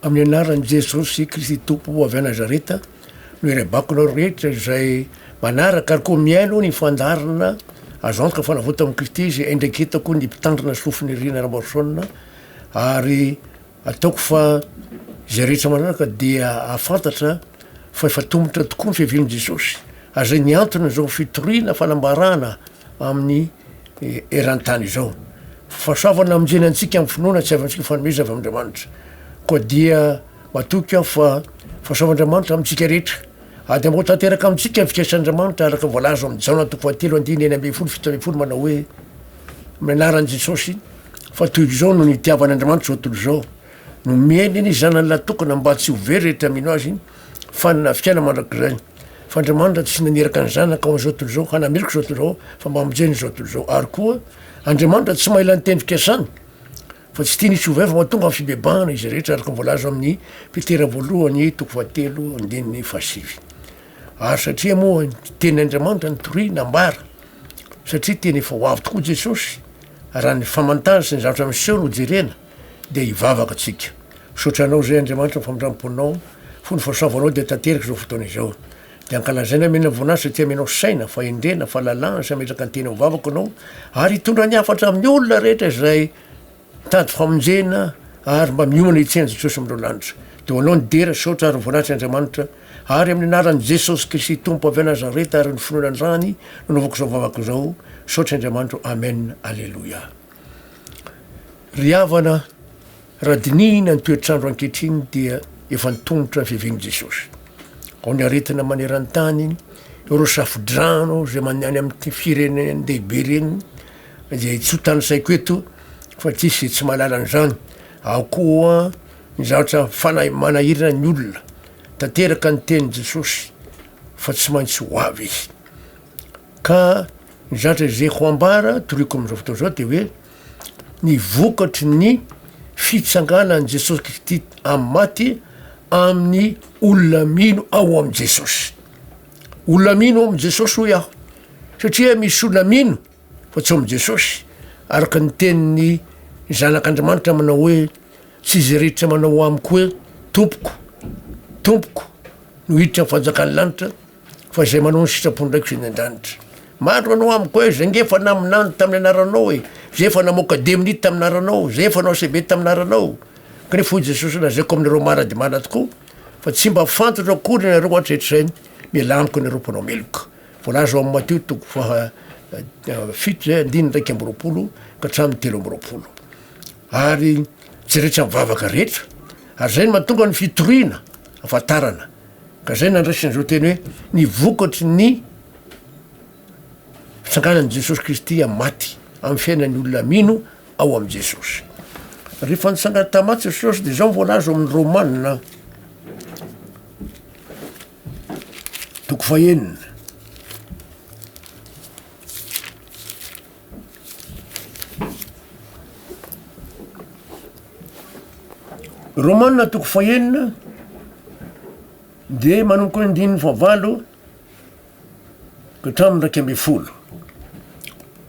Amin'ny anaran'i Jesosy Kristy Tompo avy any Nazareta no irebako anao rehetra izay manaraka ary koa mihaino ny fandaharana azo antoka fanavotana amin'i Kristy izay endraiketako ny mpitandrina sofiny Rina Ramaroson ary ataoko fa izay rehetra manaraka dia hahafantatra fa efa tomotra tokoa ny fiavian'i Jesosy ary izay ny antony izao fitoriana fanambarana amin'ny eran-tany izao. Fahasoavana hamonjena antsika amin'ny finoana tsy avy amintsika fanomezana avy amin'Andriamanitra. Koa dia matoky aho fa fahasoavan'Andriamanitra amintsika rehetra. Ady ambao tanteraka amintsika ny fikasan'Andriamanitra araka ny voalaza ao amin'ny Jaona toko fahatelo andininy enina ambin'ny folo fito ambin'ny folo manao hoe Amin'ny anaran'i Jesosy, fa toy izao no nitiavan'Andriamanitra izao tontolo izao, nomeny ny Zanany Lahy Tokana mba tsy ho very rehetra mino Azy, fa hanana fiainana mandrakizay. Fa Andriamanitra tsy naniraka ny Zanaka ho an'izao tontolo izao ka nametraka izao tontolo izao fa mba hamonjena izao tontolo izao. Ary koa, Andriamanitra tsy maila ny teny fikasany, fa tsy tiany hitsovay fa mahatonga amin'ny fibebahana izy rehetra, araka ny voalaza ao amin'ny Petera voalohany toko fahatelo andininy fahasivy. Ary satria moa teny Andriamanitra no toria na ambara, satria tena efa ho avy tokoa Jesosy, raha ny famantany sy ny zavatra miseho no jerena, dia hivavaka tsika. Misaotra anao izay Andriamanitra ny famindram-ponao fony fahasoavanao dia tanteraka izao fotoana izao. Dia ankalazaina amena voninahitra satria amenao saina, fahendrena, fahalalana sy ametraka ny teny mivavaka anao ary hitondra ny hafatra amin'ny olona rehetra izay mitady famonjena ary mba miomana etsy any Jesosy amin'ireo lanitra. Dia ho anao ny dera, misaotra ary voninahitry Andriamanitra ary amin'ny anaran'i Jesosy Kristy Tompo avy any Nazareta ary ny finoana ny rany nanaovako izao vavaka izao, misaotra Andriamanitro, Amen, Aleloia. Ry havana, raha dinihina ny toetr'andro ankehitriny dia efa nitongotra ny fiavian'i Jesosy. Ao ny aretina maneran-tany, eo ireo safodrano izay mande any amin'ny firenendehibe ireny izay tsy ho tanisaiko eto fa tsy hisy izay tsy mahalala an'izany. Ao koa ny zavatra fanahy manahirana ny olona. Tanteraka ny tenin'i Jesosy fa tsy maintsy ho avy izy. Ka ny zatra izay ho ambara toriako amin'izao fotoana izao dia hoe ny vokatry ny fitsanganan'i Jesosy Kristy amin'ny maty amin'ny olona mino ao amin'i Jesosy. Olona mino ao amin'i Jesosy hoy aho, satria misy olona mino fa tsy ao amin'i Jesosy, araka ny tenin'ny Zanak'Andriamanitra manao hoe tsy izay rehetra manao amiko hoe Tompoko, Tompoko no hiditra amin'ny fanjakan'ny lanitra, Fa izay manao ny sitrapondraikitra eny an-danitra. Maro nanao amiko hoe, Zay nge fa naminany tamin'ny anaranao e! Zay efa namoaka demony tamin'ny anaranao! Zay efa nanao CB tamin'ny anaranao! Kanefa hoy Jesosy, Lazaiko aminareo mara-dia-mara tokoa, fa tsy mba fantatra akory ianareo hatrehatr'izay, mialà amiko ianareo mpanao meloka. Voalaza ao amin'ny Mateo toko faha fito izay andininy iraika amby roapolo ka hatramin'ny telo amby roapolo. Ary jeretsika ny vavaka rehetra. Ary izay no mahatonga ny fitoriana, hafantarana. Ka zay nandraisan'izao teny hoe ny vokatry ny fitsanganan'i Jesosy Kristy amin'ny maty, amin'ny fiainan'ny olona mino ao amin'i Jesosy. Rehefa nitsangana tamin'ny maty Jesosy dia izao ny voalaza ao amin'ny Romanina toko fahenina Romana toko fahenina dia manomboka ny andininy fahavalo ka hatramin'ny iraika ambin'ny folo.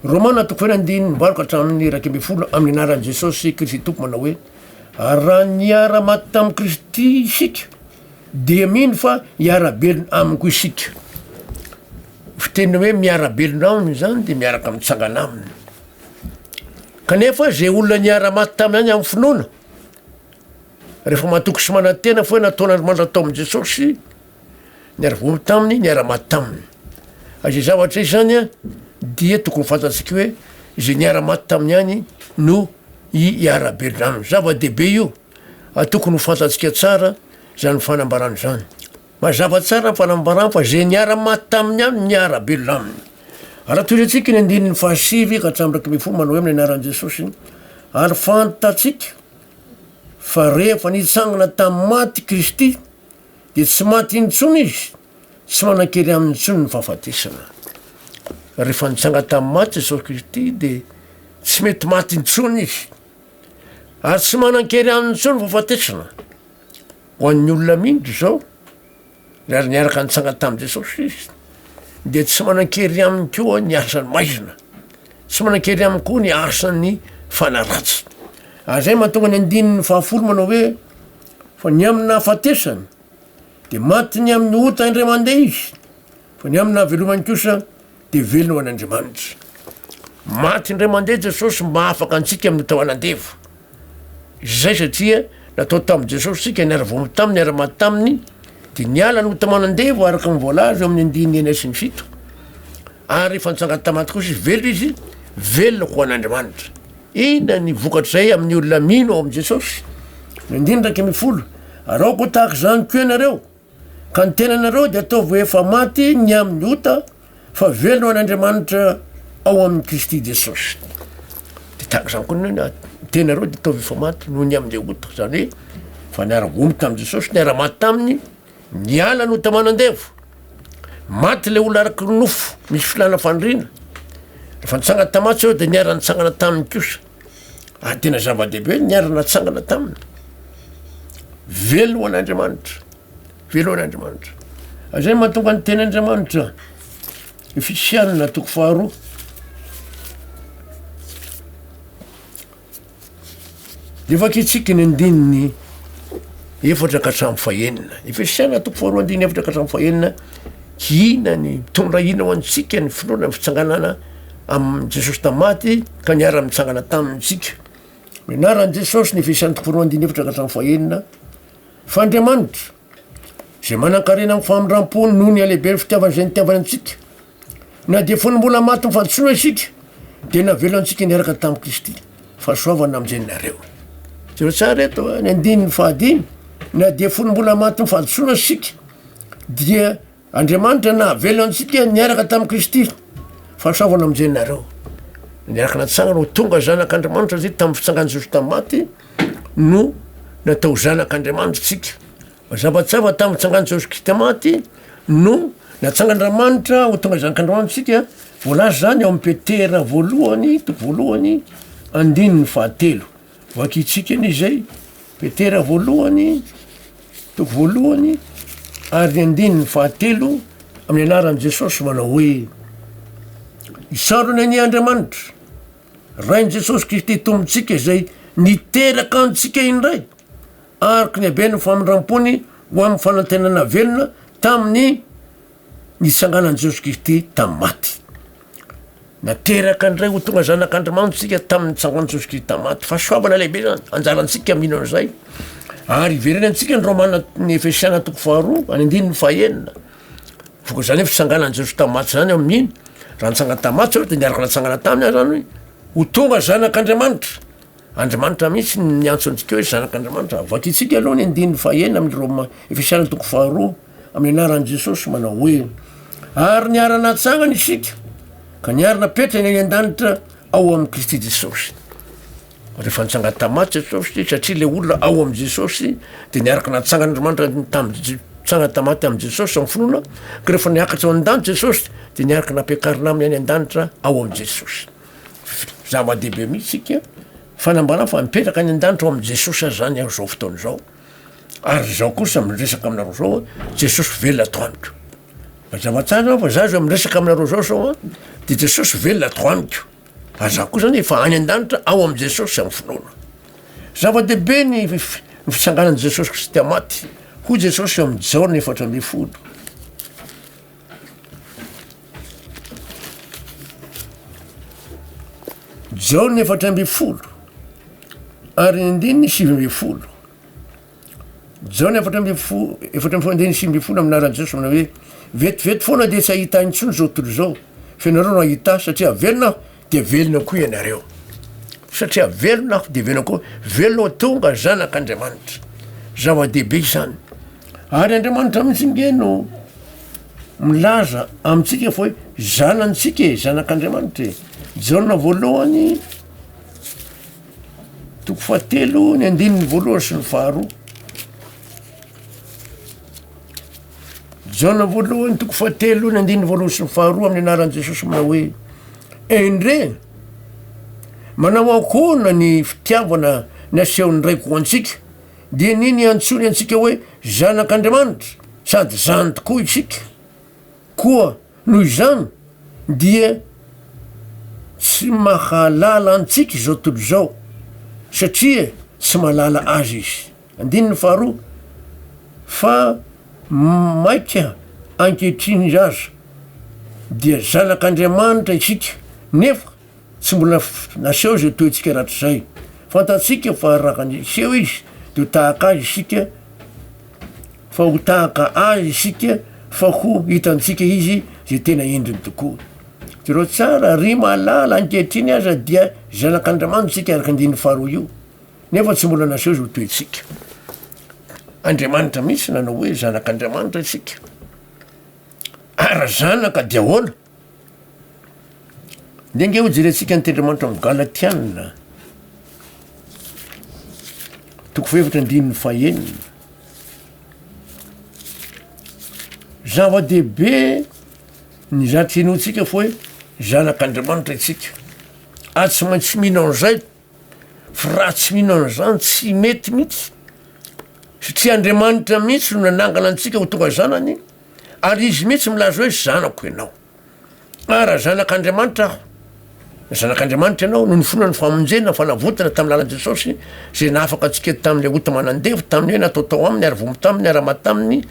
Romana toko fahenina andininy valo ka hatramin'ny iraika ambin'ny folo amin'ny anaran'i Jesosy Kristy Tompo manao hoe ary raha niara-maty tamin'i Kristy isika Dia mino fa hiara-belona amiko isika. Ny fiteny hoe miara-belona aminy izany dia miaraka mitsangana aminy. Kanefa izay olona niara-maty tamin'ny any amin'ny finoana, rehefa matoky sy manantena fa hoe nataon'Andriamanitra hatao amin'i Jesosy, niara-vono taminy, niara-maty taminy. Ary izay zavatra izany a, dia tokony fantatsika hoe izay niara-maty tamin'ny any no hiara-belona aminy. Zava-dehibe io. A Tokony ho fantatsika tsara izany fanambarana izany. Mazava tsara ny fanambarana fa izay niara-maty taminy ihany no niara-belona aminy. Raha tohizintsika ny andininy fahasivy ka hatramin'ny iraika ambin'ny folo manao hoe amin'ny anaran'i Jesosy, ary fantatsika fa rehefa nitsangana tamin'ny maty i Kristy dia tsy maty intsony izy, tsy manan-kery aminy intsony ny fahafatesana. Rehefa nitsangana tamin'ny maty Jesosy Kristy dia tsy mety maty intsony izy. Ary tsy manan-kery aminy intsony ny fahafatesana. Ho an'ny olona mino izao, ary niaraka nitsanga tamin'i Jesosy izy, dia tsy manan-kery aminy koa ny asan'ny maizina. Tsy manan-kery aminy koa ny asan'ny fanahy ratsy. Ary izay mahatonga ny andininy fahafolo manao hoe, fa ny amin'ny nahafatesany dia maty ny amin'ny ota indray mandeha izy. Fa ny amin'ny nahavelomany kosa dia velona ho an'Andriamanitra. Maty indray mandeha Jesosy mba hahafaka antsika amin'ny taona andevo. Izay satria natao tamin'i Jesosy isika niara-voaomby taminy, niara-maty taminy, dia niala ny ho andevo araka ny voalaza eo amin'ny andininy enina sy ny fito. Ary rehefa nitsangana tamaty kosa izy velona izy, velona ho an'Andriamanitra. Inona ny vokatr'izay amin'ny olona mino ao amin'i Jesosy? Ny andininy iraika ambin'ny folo, Araho koa tahaka izany koa ianareo. Ka ny tenanareo dia ataovy ho efa maty ny amin'ny ota fa velona ho an'Andriamanitra ao amin'i Kristy Jesosy. Dia tahaka izany koa ny tenareo dia ataovy efa maty noho ny amin'ilay ota, izany hoe fa niara-vomy tamin'i Jesosy, niara-maty taminy, niala ny ota manan-devo, maty ilay olona araka ny nofo, misy filàna faniriana, rehefa nitsangana tamin'ny maty ireo dia niara-nitsangana taminy kosa. ary tena zava-dehibe ny niara-natsangana taminy, velona an'Andriamanitra, velona an'Andriamanitra, ary zay mahatonga ny teny Andriamanitra Efisianina toko faharoa de vakintsika ny andininy efatra ka hatramin'ny fahenina, Efesiana toko faharoa andininy efatra ka hatramin'ny fahenina, hina ny mitondra hina ho antsika ny finoana ny fitsanganana amin'i Jesosy tamin'ny maty ka niara-nitsangana tamintsika. Nianaran'i Jesosy ny fihisan'ny toko roandiny efatra ka hatramin'ny fahenina fa Andriamanitra izay manan-karena amin'ny famindram-po noho ny halehiben'ny fitiavana izay nitiavana antsika. Na dia fony mbola maty ny fahadisoana isika dia navelo antsika niaraka tamin'i Kristy. Fahasoavana amin'izay nareo. Jereo tsara eto ny andininy fahadimy na dia fony mbola maty ny fahadisoana isika dia Andriamanitra nahavelo antsika niaraka tamin'i Kristy. Fahasoavana amin'izay ianareo. Niaraka natsangana ho tonga zanak'Andriamanitra izay tamin'ny fitsangan'i Jesosy tamin'ny maty no natao zanak'Andriamanitra isika. Zava-tsafa tamin'ny fitsangan'i Jesosy Kristy tamin'ny maty no natsangan'Andriamanitra ho tonga zanak'Andriamanitra isika. Voalaza izany ao amin'ny Petera voalohany, toko voalohany, andininy fahatelo. Vakitsika anie izay, Petera voalohany, toko voalohany, ary ny andininy fahatelo, amin'ny anaran'i Jesosy manao hoe, Isaorana anie Andriamanitra, Rain'i Jesosy Kristy Tompontsika izay niteraka antsika indray, araka ny haben'ny famindram-pony ho amin'ny fanantenana velona tamin'ny nitsanganan'i Jesosy Kristy tamin'ny maty. Nateraka indray ho tonga zanak'Andrimanitra isika tamin'ny nitsangan'i Jesosy Kristy tamin'ny maty. Fahasoavana lehibe zany, anjarantsika mino an'izay. Ary iverena antsika ny Romana ny Efesiana toko faharoa any andininy fahenina. Vokatry izany hoe fitsanganan'i Jesosy tamin'ny maty izany eo amin'iny, raha nitsangana tamin'ny maty izy ireo dia niaraka natsangana taminy ary zany hoe ho tonga zanak'Andriamanitra. Andriamanitra mihitsy no niantso antsika hoe zanak'Andriamanitra. Vakintsika aloha ny andininy fahaenina amin'ny Roma, Efesiana toko faharoa, amin'ny anaran'i Jesosy manao hoe, Ary niara-natsangana isika, ka niara-napetrany any an-danitra ao amin'i Kristy Jesosy. Rehefa nitsangana tamin'ny maty Jesosy, satria ilay olona ao amin'i Jesosy, dia niaraka natsangan'Andriamanitra tamin'ny tsangana tamin'ny maty amin'i Jesosy amin'ny finoana, ka rehefa niakatra ho any an-danitra Jesosy, dia niaraka nampiakarina aminy any an-danitra ao amin'i Jesosy. Zava-dehibe mihitsy isika fanambarana fa mipetraka any an-danitra ao amin'i Jesosy aza izany amin'izao fotoana izao. Ary izaho kosa miresaka aminareo izao, Jesosy velona ato amiko. Mazava tsara izany fa izaho izao miresaka aminareo izao zao an, dia Jesosy velona ato amiko. Ary izaho koa izany efa any an-danitra ao amin'i Jesosy amin'ny finoana. Zava-dehibe ny f- ny fitsanganan'i Jesosy Kristy tamaty. Hoy Jesosy eo amin'ny Jaona efatra ambin'ny folo. Jaona efatra ambin'ny folo ary andininy sivy ambin'ny folo jaona efatra ambin'ny fo- efatra ambin'ny folo andininy sivy ambin'ny folo amin'ny anaran'i Jesosy manao hoe vetivety foana dia tsy hahita intsony izao tontolo izao fa ianareo no hahita satria velona aho. Dia velona koa ianareo. Satria velona aho dia velona koa. Velona ho tonga zanak'Andriamanitra. Zava-dehibe izany. Ary Andriamanitra mihitsy nge no milaza amintsika fa hoe zanantsika e, zanak'Andriamanitra e. Jaona voalohany toko fahatelo ny andininy voalohany sy ny faharoa. Jaona voalohany toko fahatelo ny andininy voalohany sy ny faharoa amin'ny anaran'i Jesosy manao hoe Endre manao ahoana ny fitiavana ny asehon'ny Raiko ho antsika dia ny ny antsoiny antsika hoe zanak'Andriamanitra sady zany tokoa isika koa noho izany dia tsy mahalala antsika izao tontolo izao satria tsy mahalala azy izy Andininy faharoa, Fa maika ankehitriny aza dia zanak' Andriamanitra isika, nefa tsy mbola naseho izay toetsika ratr'izay. Fantatsika fa raha niseho izy dia ho tahaka azy isika, fa ho tahaka azy isika, fa ho hitantsika izy izay tena endriny tokoa. Jereo tsara, Ry malala, ankehitriny aza dia zanak' Andriamanitra isika, araka io andininy faharoa io. Nefa tsy mbola naseho izao toetsika. Andriamanitra mihitsy nanao hoe zanak'Andriamanitra isika. Ary raha zanaka dia ahoana? Dia nge hojerentsika ny tendramanitra amin'ny Galatiana toko fahefatra andininy fahenina. Zava-dehibe ny zatra inoantsika fa hoe zanak'Andriamanitra isika. Ary tsy maintsy mino an'izay Fa raha tsy mino an'izany, tsy mety mihitsy, satria Andriamanitra mihitsy no nanangana antsika ho tonga zanany, ary Izy mihitsy milaza hoe zanako ianao. Ary raha zanak'Andriamanitra aho, na zanak'Andriamanitra ianao, no niforonan' ny famonjena, ny fanavotana tamin'ny lalan'i Jesosy, izay nahafaka antsika tamin'ilay ota manandevo, tamin'ny hoe natao tao aminy, ary vomy taminy, ary maty taminy,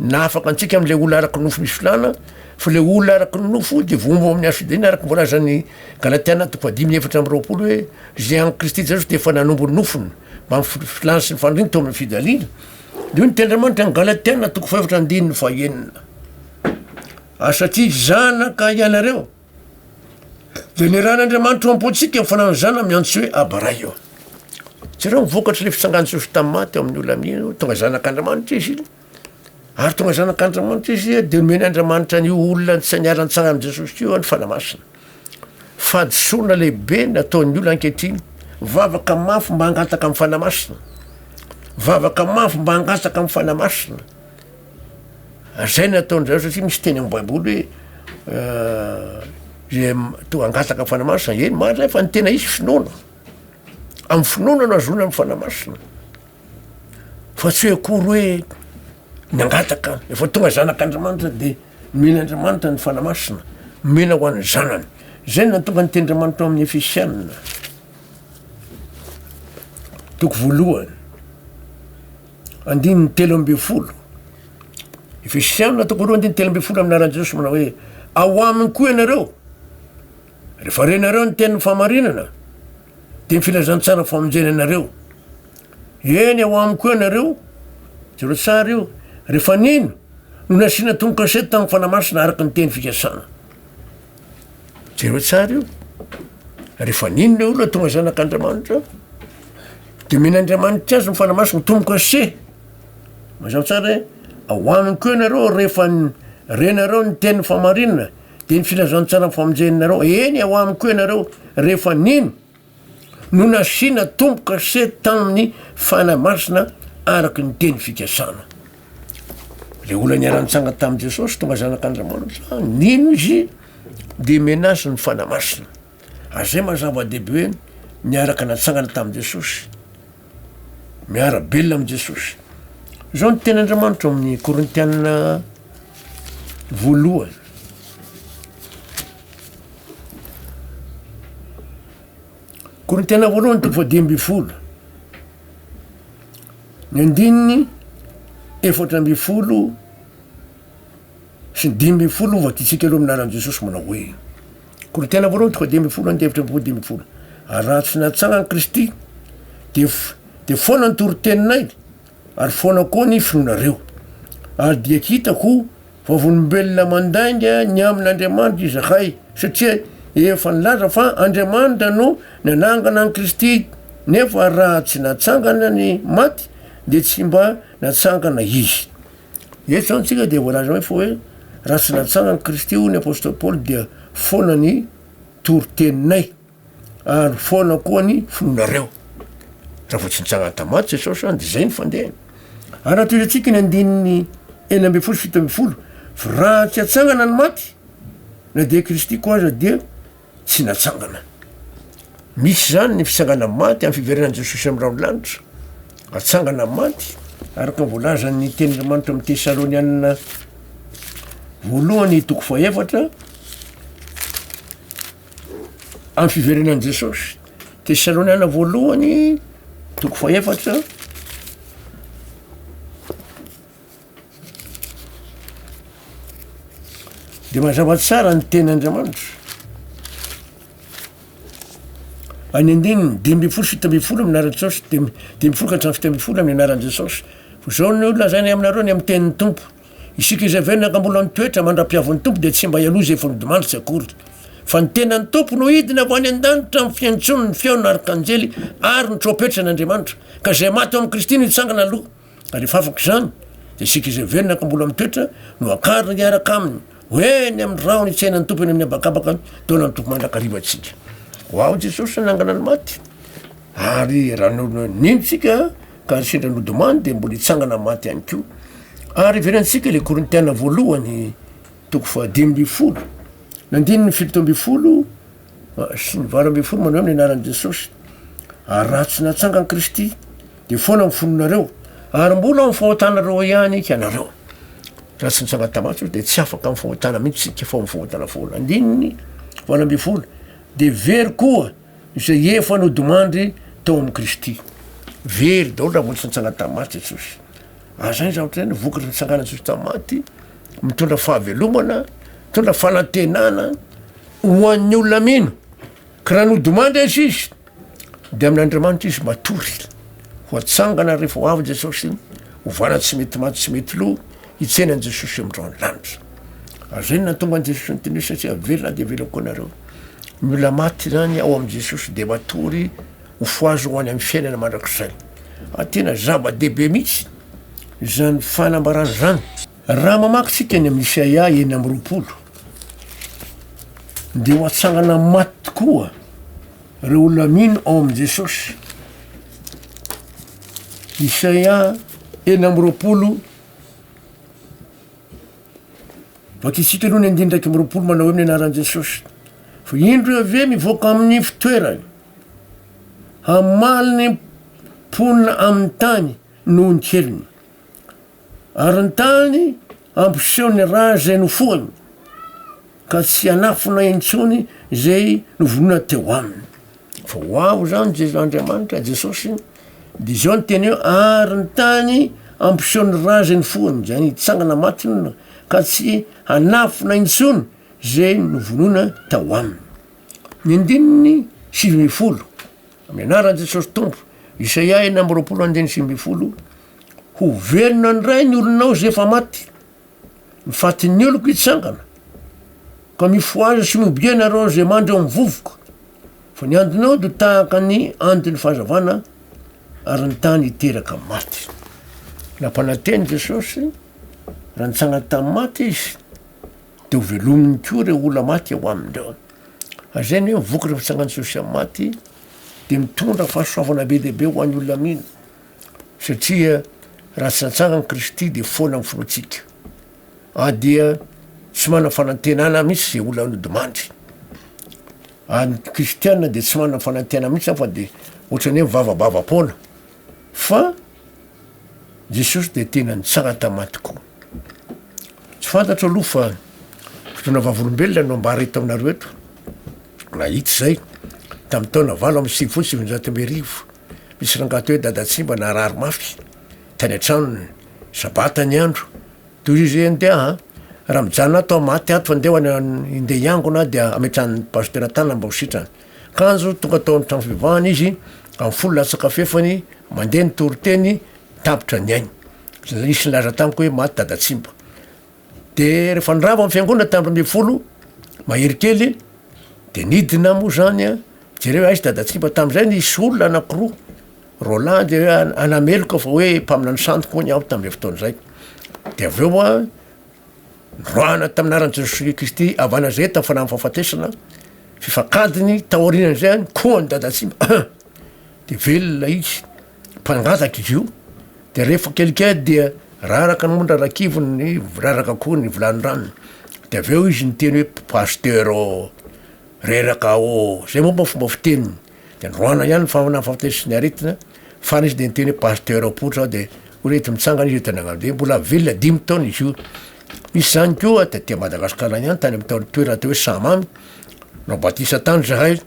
nahafaka antsika amin'ilay olona araky ny nofo misy filana, fa ilay olona araky ny nofo dia voaombo amin'ny hasodia, araka ny voalazan'i. Galatiana toko fahadimy efatra amby roapolo hoe, Izay amin'i Kristy Jesosy dia efa nanombo ny nofony mba amin'ny fi- filany sy ny faniriany teo amin'ny fijaliana. Noho ny Tenin'Andriamanitra ny Galatiana toko fahefatra andininy fahenina. Ary satria zanaka ianareo, dia nirahan'Andriamanitra eo am-pontsika io fananan'ny Zanany miantso hoe Aba Ray io. Jereo ny vokatr'ilay fitsangan'i Jesosy tamin'ny maty ao amin'ny olamia, tonga zanak'Andriamanitra izy. Ary tonga zanak'Andriamanitra izy dia omeny Andriamanitra an'io olona tsy nialan-tsagny amin'i Jesosy io ny Fanahy Masina. Fahadisoana lehibe ny ataon'ny olona ankehitriny, vavaka mafy mba hangataka amin'ny Fanahy Masina. Vavaka mafy mba hangataka amin'ny Fanahy Masina. Ary zay ny ataon'i Jesosy satria misy teny amin'ny Baiboly hoe eh, to hangataka amin'ny Fanahy Masina, eny marina fa ny tena izy finoana. Amin'ny finoana no ahazoana amin'ny Fanahy Masina. fa tsy hoe akory hoe mangataka efa tonga zanak'Andriamanitra de nomena Andriamanitra ny fanahy masina nomena ho an'ny zanany zay natonga ny tenin'Andriamanitra ao amin'ny Efesiana toko voalohany andininy telo ambin'ny folo Efesiana toko roa andininy telo ambin'ny folo amin'ny anaran'i Jesosy manao hoe ao aminy koa ianareo rehefa renareo ny tenin'ny fahamarinana Dia ny filazantsara famonjena anareo. Eny ao aminy koa ianareo, jereo tsara io, rehefa nino no nasiana tonon-kasety tamin'ny Fanahy Masina araka ny teny fikasana. Jereo tsara io. Rehefa nino ilay olona tonga zanak'Andriamanitra, dia men'Andriamanitra azy ny Fanahy Masina tonon-kase. Mazava tsara e, ao aminy koa ianareo rehefa renareo ny tenin'ny famarinana, Dia ny filazantsaran'ny famonjenareo, eny ao aminy koa ianareo, rehefa nino, no nasiana tombo-kase tamin'ny Fanahy Masina araka ny teny fikasana. Le olona niara-nitsanga tamin'i Jesosy, tonga zanak'Andriamanitra, nino izy, dia menace ny Fanahy Masina. Ary izay maha zava-dehibe hoe niaraka natsangana tamin'i Jesosy, miara-belona amin'i Jesosy. Izao ny tenin'Andriamanitra ao amin'ny Korintianina voalohany. Korintianina voalohany toko fahadimy ambin'ny folo. Ny andininy efatra ambin'ny folo sy ny dimy ambin'ny folo vakitsika aloha amin'ny anaran'i Jesosy manao hoe. Korinthiana voalohany toko dimy ambin'ny folo andininy efatra ambin'ny folo dimy ambin'ny folo, ary raha tsy natsangan'i Kristy dia f- dia foana ny toriteninay ary foana koa ny finoanareo. Ary dia hitako vavolombelona mandainga ny amin'Andriamanitra izahay, satria efa nilaza fa Andriamanitra no nanangana an'i Kristy, nefa raha tsy natsangana ny maty dia tsy mba natsangana izy. Eto izany tsika dia voalaza hoe fa hoe raha tsy natsanga an'i Kristy hoy ny apostoly Paoly dia foana ny toriteninay ary foana koa ny finoanareo. Raha vao tsy nitsangana tamin'ny maty Jesosy izany dia izay ny fandehany. Ary raha toy izay tsika ny andininy enina ambin'ny folo sy fito ambin'ny folo fa raha tsy atsangana ny maty na dia Kristy koa aza dia tsy natsangana. Misy izany ny fitsanganan'ny maty amin'ny fiverenan'i Jesosy amin'ny rahon'ny lanitra. Atsangana amin'ny maty, araka ny voalazan'ny Tenin'Andriamanitra amin'ny Tesalonianina voalohany toko fahaefatra, amin'ny fiverenan'i Jesosy. Tesalonianina voalohany toko fahaefatra, De mazava tsara ny teny Andriamanitra any andininy dimy ambin'ny folo sy fito ambin'ny folo amin'ny anaran'i Jesosy dimy dimy ambin'ny folo ka hatramin'ny fito ambin'ny folo amin'ny anaran'i Jesosy. Fa zao no lazainay aminareo ny amin'ny tenin'ny Tompo, isika izay avy eo naka mbola nitoetra mandra-pihavin'ny Tompo dia tsy mba hialoha izay efa nodimandry tsy akory, fa ny tenan'ny Tompo no hidina avy any an-danitra amin'ny fiantsoan'ny feon'arkanjely ary ny trompetra an'Andriamanitra, ka izay maty ao amin'i Kristy no hitsangana aloha. Ka rehefa afaka izany, dia isika izay velona ka mbola mitoetra no hakarina hiaraka Aminy ho eny amin'ny rahona hitsainan'ny Tompo eny amin'ny habakabaka taonan'ny Tompo mandrakariva antsika. Ho aho Jesosy no nangana ny maty, ary raha no nino tsika ka sendra nodimandry dia mbola hitsangana amin'ny maty ihany koa. Ary ivelantsika ilay Korintiana voalohany toko fahadimy ambin'ny folo, ny andininy fito ambin'ny folo, sy ny valo ambin'ny folo manao ny anaran'i Jesosy, ary raha tsy natsanga an'i Kristy, dia foana ny fononareo, ary mbola ao amin'ny fahotanareo ihany ianareo. Raha tsy nitsanga tamin'ny maty dia tsy afaka amin'ny fahotana mihitsy isika, fa amin'ny fahotana foana. Andininy valo ambin'ny folo, dia very koa izay efa nodimandry tao amin'i Kristy. Very daholo raha vao tsy nitsanga tamin'ny maty Jesosy. Ary zany zavatra zany, vokatry ny fitsanganan'i Jesosy tamin'ny maty, mitondra fahavelomana, mitondra fanantenana, Ho an'ny olona mino, ka raha nodomandry aza izy, dia amin'Andriamanitra izy matory, ho atsangana rehefa ho avy Jesosy, ho vara tsy mety maty tsy mety lo, hitsena an'i Jesosy amin'ireo any lanitra. Aza inona no tonga an'i Jesosy ny tenue satria velona dia velona koa nareo. Ny olona maty zany ao amin'i Jesosy dia matory ho fohaza ho any amin'ny fiainana mandrakizay. Ary tena zava-dehibe mihitsy izany fanambarana izany. Raha mamaky tsika eny amin'ny Isaia enina amby roapolo dia ho atsangana maty tokoa ireo olona mino ao amin'i Jesosy. Isaia enina amby roapolo Vakitsika aloha ny andindraiky amby roapolo manao hoe amin'ny anaran'i Jesosy. Fa indro ave mivoaka amin'ny fitoerany. Hamaly ny mponina amin'ny tany noho ny keliny. Ary ny tany hampiseho ny ra izay nofohany, ka tsy hanafina intsony izay novonoina teo aminy. Fa ho avo zany Jeso- Andriamanitra, Jesosy, de izao ny teny hoe, ary ny tany hampiseho ny ra izay nofohany, izay nitsangana maty ny olona, ka tsy hanafina intsony izay novonoina tao aminy. Ny andininy sivy ambin'ny folo. Amin'ny anaran'i Jesosy Tompo, Isaia enina amby roapolo andininy sivy ambin'ny folo, Ho velona indray ny olonao izay efa maty, ny fatin'ny oloko hitsangana, ka mifohaza sy mihobiha ianareo izay mandry ao amin'ny vovoka, fa ny andinao dia tahaka ny andin'ny fahazavana, ary ny tany hiteraka maty. Nampananteny Jesosy raha nitsangana tamin'ny maty izy, Dia ho velominy koa ireo olona maty ao aminy ireo. Ary izay anie ny vokatra fitsangan'i Jesosy amin'ny maty dia mitondra fahasoavana be dia be ho an'ny olona mino. Satria raha tsy natsangan'i Kristy dia foana ny finoantsika. Ary dia tsy manana fanantenana mihitsy izay olona nodimandry. Ary ny kristiana dia tsy manana fanantenana mihitsy fa dia ohatrany hoe mivavabava-poana. Fa Jesosy dia tena nitsangana tamin'ny maty koa. Tsy fantatro aloha fa fotoana vavolombelona no ambara eto aminareo eto, nahitsy zay tamin'ny taona valo amby sivifolo sy sivinjato sy roa arivo, misy rangahy atao hoe Dadatsimba narary mafy tany an-tranony, sabata ny andro, tohizo izy hoe ndeha a, raha mijanona ato aho maty ato fa ndeha ho any an- ndeha hiangona aho dia ametrahan'ny pasitera an-tanana mba ho sitrana, kanjo tonga tao amin'ny trano fivavahana izy amin'ny folo latsaka fefany, mandeha ny toriteny, tapitra ny ainy. Nisy nilaza tamiko hoe maty Dadatsimba. Dia rehefa nirava ny fiangonana tamin'ny roa ambin'ny folo mahery kely dia nidina aho moa izany a, jereo hoe aiza i Dadatsimba. Tamin'izay nisy olona anankiroa, Roland dia hoe an- hanameloka fa hoe mpaminany sandoka hono aho tamin'izay fotoana izay. Dia avy eo an, noroahana tamin'ny anaran'i Jesoa Kristy avy any Nazareta ny fanahy fahafatesana, fifankadiny taorian'izay an, koa an'i Dadatsimba, dia velona izy. mpangataka izy io de rehefa kelikely dia raraka ny ondra rakiviny raraka koa ny vilany ranony de avy eo izy niteny hoe pasteur ô reraka ô zay moa mba fomba fiteniny de noroahana ihany ny fahafatesan'ny sy ny aretina fa izy de niteny hoe pasteur apoitra aho de ho lety mitsangana izy eto an'Analabe mbola velona dimy taona izy io nisy zany koa taty Madagasikara ihany tany amin'ny taona toerana atao hoe Sahamamy nanao batisa tany zahay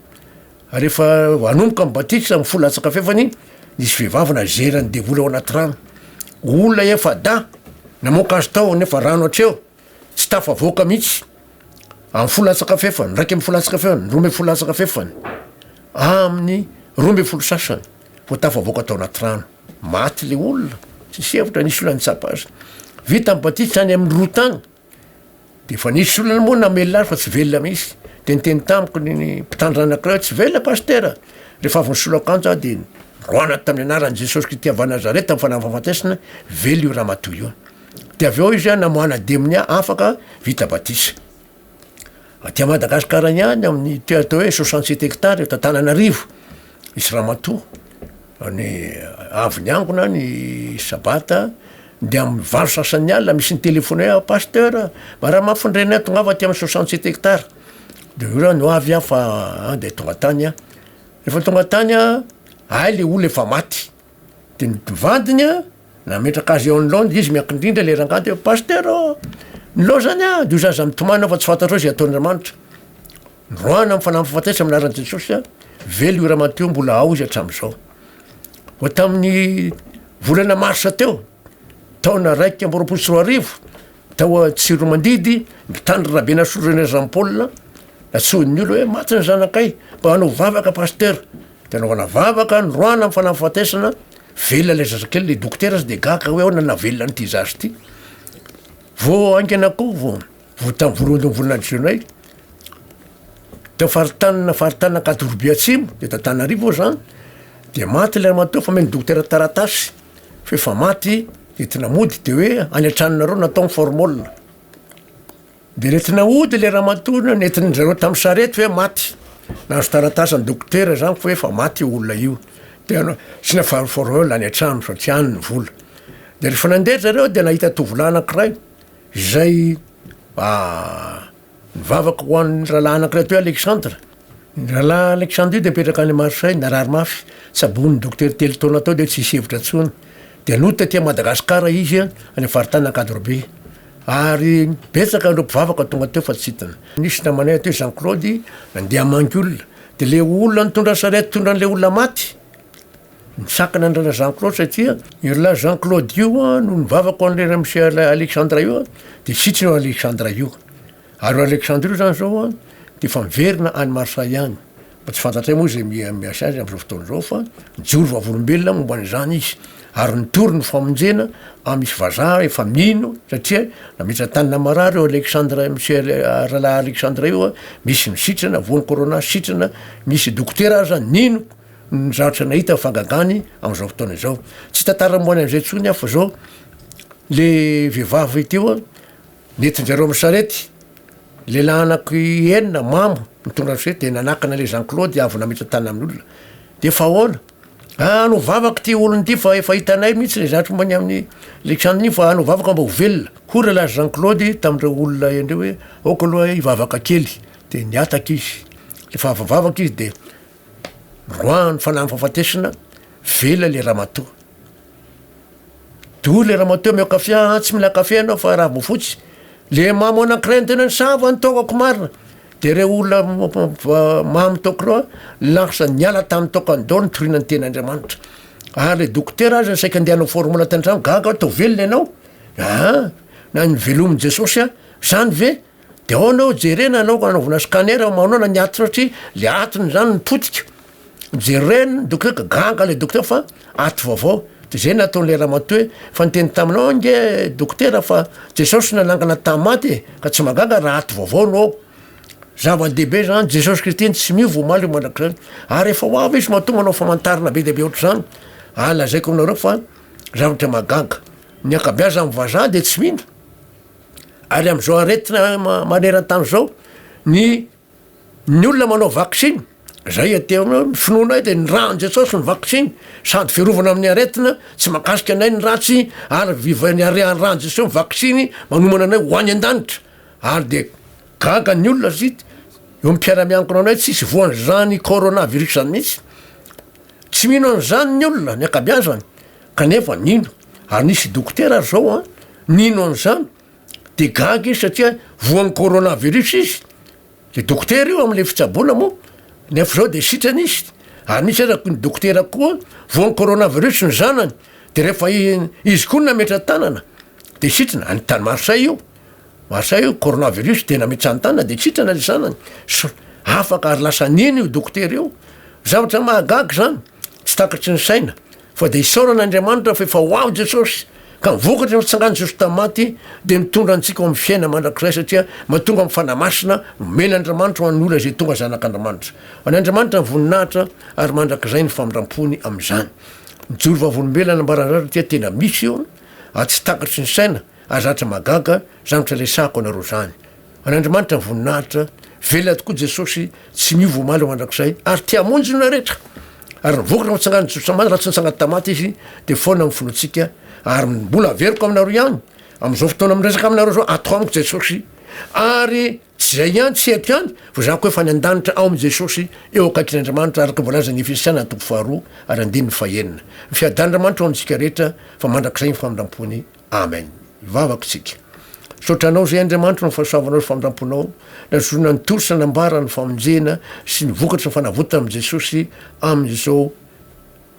Rehefa hanomboka ny batisa amin'ny folo latsaka fahefany iny, nisy vehivavy nazera ny devoly ao anaty rano. Olona efa-dahy namoaka azy tao nefa rano hatreo tsy tafavoaka mihitsy. Amin'ny folo latsaka fahefany, iraika ambin'ny folo latsaka fahefany, roa ambin'ny folo latsaka fahefany, amin'ny roa ambin'ny folo sasany vao tafavoaka tao anaty rano. Maty ilay olona, tsisy hevitra, nisy olona nitsapa azy. Vita ny batisa any amin'ny roa tany. Dia efa nisy olona moa namelona azy fa tsy velona mihitsy. Dia niteny tamiko ny mpitandrina anankiray hoe tsy velona pasitera. Rehefa avy nisolo akanjo aho dia niroana tamin'ny anaran'i Jesosy Kristy avy any Nazareta ny fanavaham-fatesana, velona io ramatoa io. Dia avy eo izy namoahana demony ahy afaka vita batisa. Aty Madagasikara ihany amin'ny toerana atao hoe soixante sept hectares eto Antananarivo. Misy ramatoa any avy niangona ny sabata dia amin'ny valo sy sasany alina misy nitelefona hoe pasteur maramafy ny renay tongava aty amin'ny soixante sept hectares de io raha no avy aho fa a de tonga tany aho rehefa tonga tany aho hay le olona efa maty de ny vadiny a nametraka azy eo anoloany de izy miankin-drindra le rangahy de hoe pasteur ô nilaozany aho de io zaho aza mitomany aho fa tsy fantatrao zay ataon'Andriamanitra Miroahana amin'ny fanampin'ny Fantatry amin'ny anaran'i Jesosy aho, velona io ramatoa io mbola ao izy hatramin'izao. Vao tamin'ny volana marsa teo, taona raika amby roapolo sy roa arivo, tao Antsiromandidy, mitandrina Rabenasolorenina Jean Paul, natsoin'ny olo hoe maty ny zanakay, mba hanao vavaka pasteur. De anaovana vavaka, niroahana amin'ny fanampin'ny Fantatesana, velona ilay zazakely, le dokotera aza de gaga hoe ahoana na velona an'ity zaza ity. Vao haingana koa vao Vao tamin'ny voalohany volana Jolay teo faritanina faritany Ankadorobe Atsimo eto Antananarivo zany dia maty ilay ramatoa fa meny dokotera taratasy fa efa maty entina mody de hoe any an-tranonareo natao ny formol de nentina hody ilay ramatoa na nentina zareo tamin'ny sarety hoe maty nahazo taratasy ny dokotera zany fa efa maty io olona io de ana- asiana fa- formol any an-trano satria any ny vola de rehefa nandeha zareo de nahita tovolahy anankiray Izay ah. Ny vavaka ho an'ny rahalahy anankiray atao hoe Alexandre. Ny rahalahy Alexandre io dia mipetraka any Marseille, narary mafy. Tsaboin'ny dokotera telo taona tao dia tsy hisy hevitra intsony. Dia nody taty Madagasikara izy any amin'ny faritany Ankadrobe. Ary betsaka ireo mpivavaka tonga teo fa tsy hitany. Nisy namanay atao hoe Jean Claude nandeha hamangy olona, dia ilay olona nitondra sarety nitondra an'ilay olona maty, Misakana ny lela Jean Claude satria io lela Jean Claude io no nivavaka ho an'ilay ramose Alexandra io dia sitrana io Alexandra io. Ary io Alexandra io zany zao dia efa miverina any Marseille any. Mba tsy fantatray moa izay miasa azy amin'izao fotoana izao fa mijoro vavolombelona momba an'izany izy. Ary nitory ny famonjena amin'isy vazaha efa mino satria nametra tany namarary io Alexandra misy rahalahy Alexandra io misy ny sitrana voan'ny corona sitrana misy dokotera aza nino ny zavatra nahita ny fangagany amin'izao fotoana izao. Tsy tantara momba an'izay intsony aho fa zao, le vehivavy teo nentin-jareo amin'ny sarety, lehilahy anaky enina mamo nitondra ny sarety de nanakana le jean claude avy nametra tany amin'olona, de fa ahoana? Any ho vavaka ity olona ity fa efa hitanay mihitsy le zavatra momba ny amin'ny le tranony iny fa any ho vavaka mba ho velona. Hoy le lahy jean claude tamin'ireo olona endreo hoe aoka aloha hivavaka kely, de nihataka izy, le fa avy nivavaka izy de. Roaha ny fanahy fahafatesana vela le ramatoa. Doa le ramatoa meo kafe aa tsy mila kafe anao fa raha bofotsy. Le mamo anankiray niteny hoe sava ny taokako marina de reo olona mamo taoko reo lasa niala tamin'ny taoko any daholo nitoriana ny teny Andriamanitra. Ary le dokotera aza saika ndeha hanao formol tany an-trano gaga aho toa velona ianao aa na ny velomin'i Jesosy a! Zany ve? De ao anao jerena anao anaovana scanner manaona ny atiny satria le atiny zany ny potika jereny ny docteur ka ganga le docteur fa aty vaovao de zay nataon'le ramatoa hoe fa niteny taminao ange dokotera fa Jesosy nanangana tamin'ny maty e ka tsy mahagaga raha aty vaovao no ao zava-dehibe zany Jesosy Kristy no tsy miova omaly io mandrakizay ary efa ho avy izy matoa manao famantarana be dia be ohatr'izany ary lazaiko aminareo fa zavatra mahagaga ny ankabeazan'ny vazaha de tsy mino ary amin'izao aretina maneran-tany izao ny ny olona manao vaksiny zay aterina hoe ny finoana dia ny ran'i Jesosy ny vaksiny sady fiarovana amin'ny aretina tsy makasika anay ny ratsy ary viva ny arean'ny ran'i Jesosy ny vaksiny manomana anay ho any an-danitra ary dia gaga ny olona zity eo amin'ny mpiara-miankina anay tsisy voan'izany corona virus zany mihitsy Tsy mino an'izany ny olona, ny ankabiazany, kanefa nino. Ary nisy dokotera ary zao an, nino an'izany, de gaga izy satria voan'ny coronavirus izy, de dokotera io am'le fitsaboana moa, nefa zao de sitrana izy, ary misy aza ko ny dokotera koa voan'ny coronavirus ny zanany, de rehefa izy koa nametra-tanana, de sitrana, any tany Marseille io. Asa io coronavirus tena mitsantana de tsy hitrana le zanany so afaka ary lasa nino io dokotera io zavatra mahagaga zany tsy takatry ny saina fa de isaorana andriamanitra fa efa ho avy jesosy ka vokatry ny fitsangany jesosy tam maty de mitondra antsika ao amin'ny fiaina mandrakizay satria matonga amin'ny fana masina nomena andriamanitra ho an'ola izay tonga zanak'andriamanitra any andriamanitra voninahitra ary mandrakizay ny famindrampony amin'izany mijoro vavolombelona nambarandratra tia tena misy io a tsy takatry ny saina Aza atra magaga zany tsy resako anareo zany an'Andrimanitra ny voninahitra velona tokoa Jesosy tsy miova omaly mandrakizay ary te hamonjy na rehetra ary nivoaka raha mitsangan'i Jesosy tamaty raha tsy nitsangany tamaty izy dia foana amin'ny finoantsika ary mbola averiko aminareo ihany amin'izao fotoana miresaka aminareo zao atao amiko Jesosy ary tsy zay ihany tsy haiko ihany fa zako efa any an-danitra ao amin'i Jesosy eo akaikin'Andrimanitra araka voalazan'ny Efesiana toko faharoa ary andininy fahenina ny fiadan'Andrimanitra ao amintsika rehetra fa mandrakizay ny famindram-pony Amen vavaka isika. Misaotra anao izay Andriamanitra ny fahasoavanao sy famindramponao nazonina ny toro sy nanambara ny famonjena sy ny vokatry ny fanavotana amin'i Jesosy amin'izao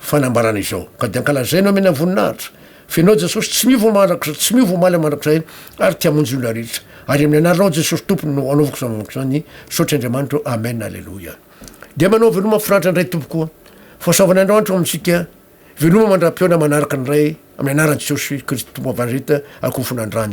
fanambarana izao ka dia ankalazaina ao mena voninahitra fenao Jesosy tsy miova mandrakizay tsy miova omaly mandrakizay ary te hamonjy olona rehetra ary amin'ny anaranao Jesosy tompony no anaovako izany manako izany misaotra Andriamanitra amen aleloia dia manao veloma firanitra indray tompoko fahasoavana Andriamanitra ao amintsika Veloma mandram-pihaona manaraka ny Ray, amin'ny anaran'i Jesosy Kristy Tompo Mampandrita, akofonan-drano.